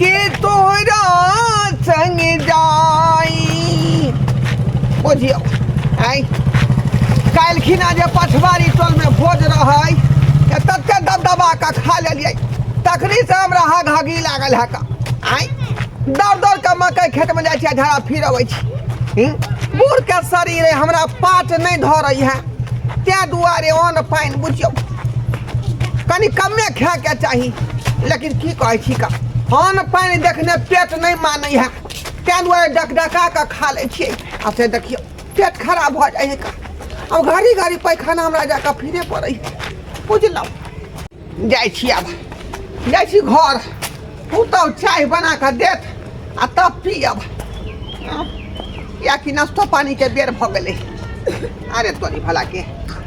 के तोरा संग जाई बुझियो आय काल्हि खिना जे पछवारी टोलमे भोज रहै तऽ तते दबदबा कऽ खा लेलियै तखनी से हमरा हग हगी लागल है का आय दौड़ दौड़ कऽ मकई खेतमे जाइ छियै झड़ा फिर अबै छी हूँ? बूढ़के शरीर अइ, हमरा पाट नहि धरै है तैँ दुआरे अन्न पानि बुझियौ कनी कमे खाए के चाही लेकिन की कहै छी का अन्न पानि देखने पेट नहि मानै है ताहि दुआरे डक डका कऽ खा लै छियै आ से देखियौ पेट खराब भऽ जाइ है का आब घड़ी घड़ी पैखाना हमरा जा कऽ फिरे पड़ै है बुझलहुँ जाइ छी आब जाइ छी घर पुतहु चाय बना कऽ देत आ तब पियब किएकि नाश्तो पानीके बेर भऽ गेलै अरे तोरी भलाके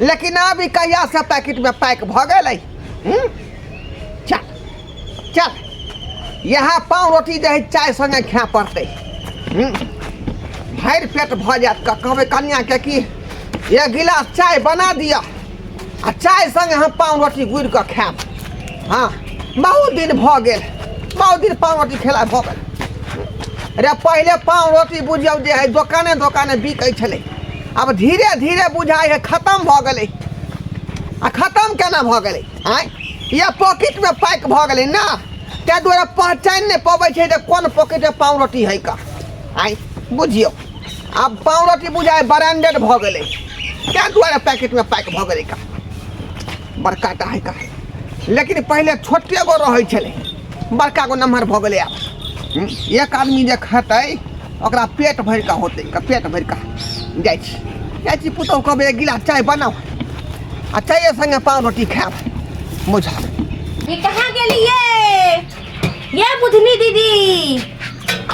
लेकिन आब ई कहिया से पैकेट में पैक भ गेल है हम्म? चल चल यहाँ पाँव रोटी जे है चाय संगे खाय पड़ते हम्म? भरि पेट भ जायत क- कहबै कनिया के कि एक गिलास चाय बना दिअ आ चाय संगे हम पाँव रोटी गुड़ि कऽ खायब हाँ बहुत दिन भऽ गेल बहुत दिन पाँव रोटी खेला भऽ गेल रे पहिले पाँव रोटी बुझियौ जे है दोकाने दोकाने बिकै छलै अब धीरे धीरे बुझाइ है खतम भऽ गेलै आ खतम केना भऽ गेलै आँय या पॉकेटमे पैक भऽ गेलै ने ताहि दुआरे पहचानि नहि पबै छै जे कोन पॉकेटमे पाव रोटी है का आँय बुझियौ आब पाव रोटी बुझाइ ब्रांडेड भऽ गेलै ताहि दुआरे पैकेटमे पैक भऽ गेलै का बड़का टा है का लेकिन पहिले छोटे गो रहै छलै बड़का गो नमहर भऽ गेलै आब हूँ, एक आदमी जे खेतै ओकरा पेट भरि कऽ होतै पेट भरि कऽ जाइ छी जाइ छी पुतहु कहबै एक गिलास चाय बनाउ आ चाय सङ्गे पाव रोटी खायब बुझा ये कहाँ गेलिए ये बुधनी दीदी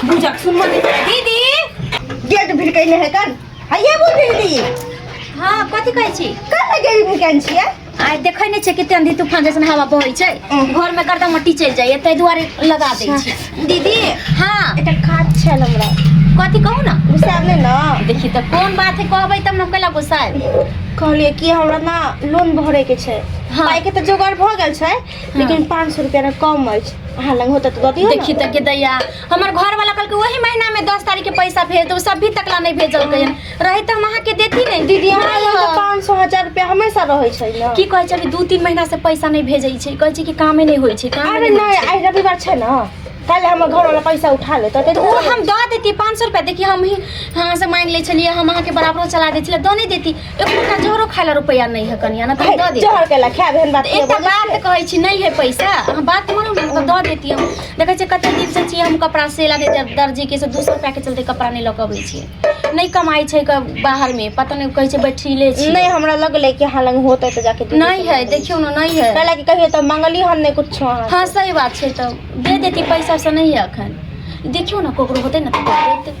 बुझक सुन दीदी गेट भिर कैले है कन है ये बुधनी दीदी हाँ कथी कहै छी कहाँ गेट भिर कैन छियै आइ देखै नहि छै कते आंधी तूफान जैसन हवा बहै छै घर में गर्दा मट्टी चलि जाइए ताहि दुआरे लगा दै छै दीदी हाँ एकटा काज छल हमरा कथी कहू ना गुस्सा नहि ना देखी तऽ कोन बात है कहबै तब ने कैला गुस्सा आएब कहलिए कि हमरा ना लोन भरे के छै हाँ। पाई के तो जोगाड़ भ गेल छै लेकिन 500 रुपया ना कम अछि अहाँ लग होता तो दऽ दियौ ना। देखी तऽ के दैया हमर घर वाला कल के वही महीना में दस तारीख के पैसा भेज दो सब भी तकला नहीं भेजल कहिन रही तो हम अहाँ के देती नहीं दीदी हमरा लग तऽ पाँच सए हजार रुपया हमेशा रहै छै ने की कहै छै अभी दू तीन महीना से पैसा नहीं भेजै छै कहै छै कि कामे नहीं होइ छै कामे अरे नहीं होइ छै। नहीं आइ रविवार छै ने काल्हि हमर घर वाला पैसा उठा लेतै तऽ ओ हम दऽ देती पाँच सौ रुपया देखिए हम ही अहाँ से मांगि लै छलियै हम अहाँके बराबरो चला दै छलियै दऽ नहि देती एकोटा जोरो खाय ला रुपया नहीं है कनिया ना तो हम दे दे जहर के ला खाए बहन बात के एकटा बोले बात कहै छी नहीं है पैसा अहाँ बात मानू ना हम दऽ देती हम देखै छियै कते दिन से छियै हम कपड़ा सेला दे जब दर्जी के से दू सौ रुपया के चलते कपड़ा नहीं लऽ कऽ अबै छियै नहीं कमाई छै क- बाहर में पता नहीं कहै छै बैठिले छी नहीं हमरा लगले कि हां लंग होते तो जाके दे नहीं है देखियो ना नहीं है कहला कि कहियो तो मंगली हम नहीं कुछ हाँ सही बात छै तऽ दे देती पैसा से नहीं है अखन देखियो ना ककरो होतै ना तऽ दऽ देतै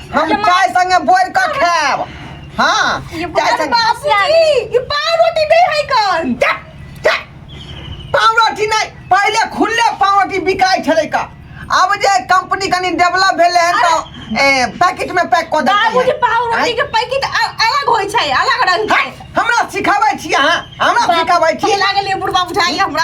हम जमा- चाय संगे बोर के खाएब हाँ ये चाय बड़ संगे बाबूजी ये पाव रोटी दे है कौन जा, जा। पाव रोटी नहीं पहले खुले पाव रोटी बिकाई छले का अब जे कंपनी कनी डेवलप भेले हैं तो ए, पैकेट में पैक कर देते बाबूजी हैं। पाव रोटी आँय? के पैकेट अ- अलग होय छै अलग रंग है, के हमरा सिखाबै छी अहाँ हमरा सिखाबै छी लागल बुढ़बा बुझाइए हमरा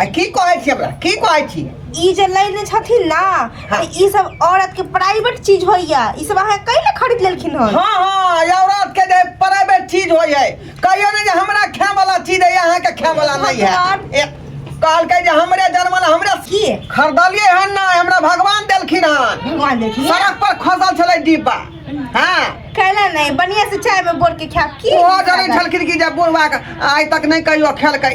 आ की कहै छी हमरा की कहै छी ई जे लेने छथिन ना हाँ। तऽ ई सब औरत के प्राइवेट चीज होइया ई सब अहाँ कैले खरीद लेलखिन हन हाँ हाँ ई औरत के जे प्राइवेट चीज हो जाए कहियो ने जे हमरा खाए वाला चीज है यहाँ के खाए वाला नहीं है भगवान। ए, कहलकै जे हमरे जन्मल हमरे की खरीदलिए हन ना हमरा भगवान देलखिन हन भगवान देखिए सड़क पर खोसल छलै डिब्बा हाँ कैला नहीं बढ़िया से चाय में बोर के खाब की ओहो जनै छलखिन कि जे बुढ़वा के आइ तक नहि कहियो खेलकै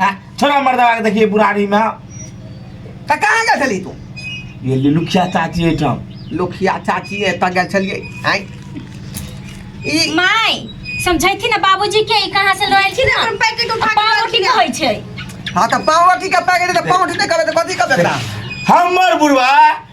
आ, छोड़ा मर्दवा के देखिए बुढ़ारी में तऽ कहाँ गेल छली तू ये लुखिया चाची एहिठाम लोखिया चाची एतऽ गेल छलियै आँय ई माय समझैथी ना बाबूजी के ई कहाँ से लयल छी ना अपन पैकेट उठा के पावर की रखिया। कहै छै हाँ तऽ पावटी का पैकेट तऽ पावटी नहि करबै तऽ कथी करबै एकरा हमर बुढ़वा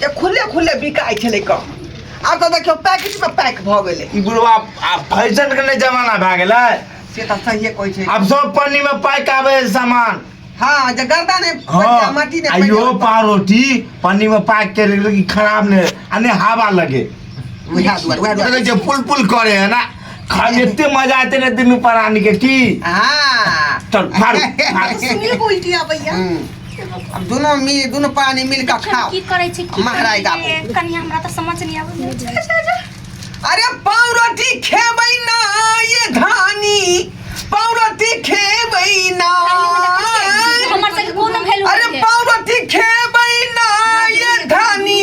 जे खुले खुले बिकाइ छलै कम आब तऽ देखियौ पैकेटमे पैक भऽ गेलै ई बुढ़वा आब फैशन के नहि जमाना भए गेलै से तऽ सहिए कहै छै आब सब पन्नी में पैक आबे है सामान हाँ जे गर्दा ने हाँ माटी ने आ यो पारोटी पन्नी में पैक के रखले कि खराब ने आ ने हवा लगे उएह दुआरे उएह दुआरे देखै छियै पुल पुल करे है ना खाली एते मजा आते ने दुनू प्राणी के की हाँ चल फाड़ फाड़ सुनिए उल्टी आबैया हम्म। अब दोनों मिल दोनों पानी मिल के खाओ की करै छै की महराइ करै दाबू। छै? कनी हमरा तऽ समझ नहि आबै अरे पावरोटी खेबै ना ये धानी पावरोटी खेबै ना हमर सबके कोनो वैल्यू अरे पावरोटी खेबै ना ये धानी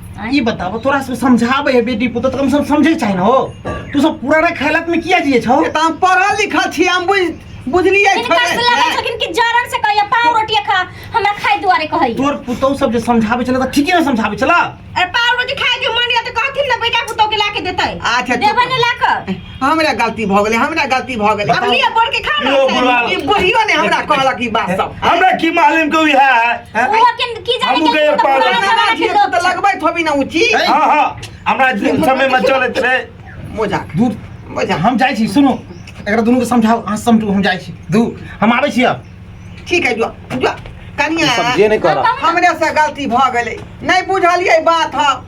ई बताबो तोरा सब समझाबे है बेटी पुत तो कम से कम समझे चाहे ना हो तू सब पुराना खेलत में किया जिए छौ तऽ हम पढ़ल लिखल छी हम बुझ बुझलियै इनका थोड़े से लगा छलखिन कि जरन से कहिया पाव रोटी खा हमरा खाए दुआरे कहै तोर पुतौ सब जे समझाबे छला त ठीके ने समझाबे छला अरे पाव रोटी खाए के मन या तऽ कहथिन ना बेटा पुतौ के लाके देतै अच्छा देबे ने लाके हमरा गलती भऽ गेलै हमरा गलती भऽ गेलै अब लिया बोल के खा ना यो, बुढ़वा। ई बुढ़ियो ने हमरा कहलक ई बात सब हमरा की मालूम के उहे है हैं? वो के की जाने हमहूँ के गए तो पागल। पुराना हमरा जमाना के जी लोग तऽ लगबै थोबी ना उची है। हाँ हाँ हमरा दिन समय में चलत रहे मोजा दूर मोजा हम जाइ छी सुनू एकरा दुनू के समझाउ अहाँ समझू हम जाइ छी दू हम आबै छी अब ठीक है जो जो कनिया समझे नहीं कर रहा हमरे से गलती भऽ गेलै नहि बुझलियै बात हम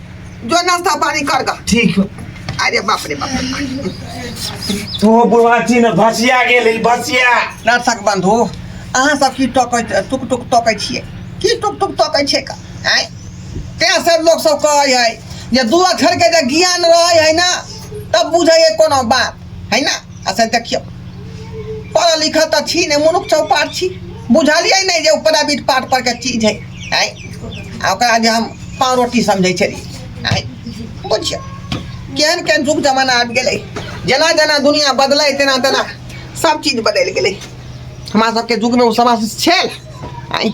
जो नाश्ता पानी कर गा ठीक हो अरे बाप रे बाप तो बुढ़वाची ने भसिया गेल ई भसिया नर्सक बंधु अहाँ सब की टकैत टुक टुक तकै छियै की टुक टुक तकै छै का आँय तेँ सब लोग सब कहै है जे दू अक्षर के जे ज्ञान रहै है ना तब बुझै है कोनो बात है ना अच्छा देखियो पढ़ल लिखल तो छी नहीं मुनुख चौपार छी बुझलिए नहीं जे ऊपर अभी पाठ पर के चीज है है ओकरा जे हम पाँव रोटी समझे छलिए है बुझियो केहन केहन जुग जमाना आबि गेलै जेना जेना दुनिया बदलै तेना तेना सब चीज बदलि गेलै हमरा सबके जुगमे ओ समाज छल आइ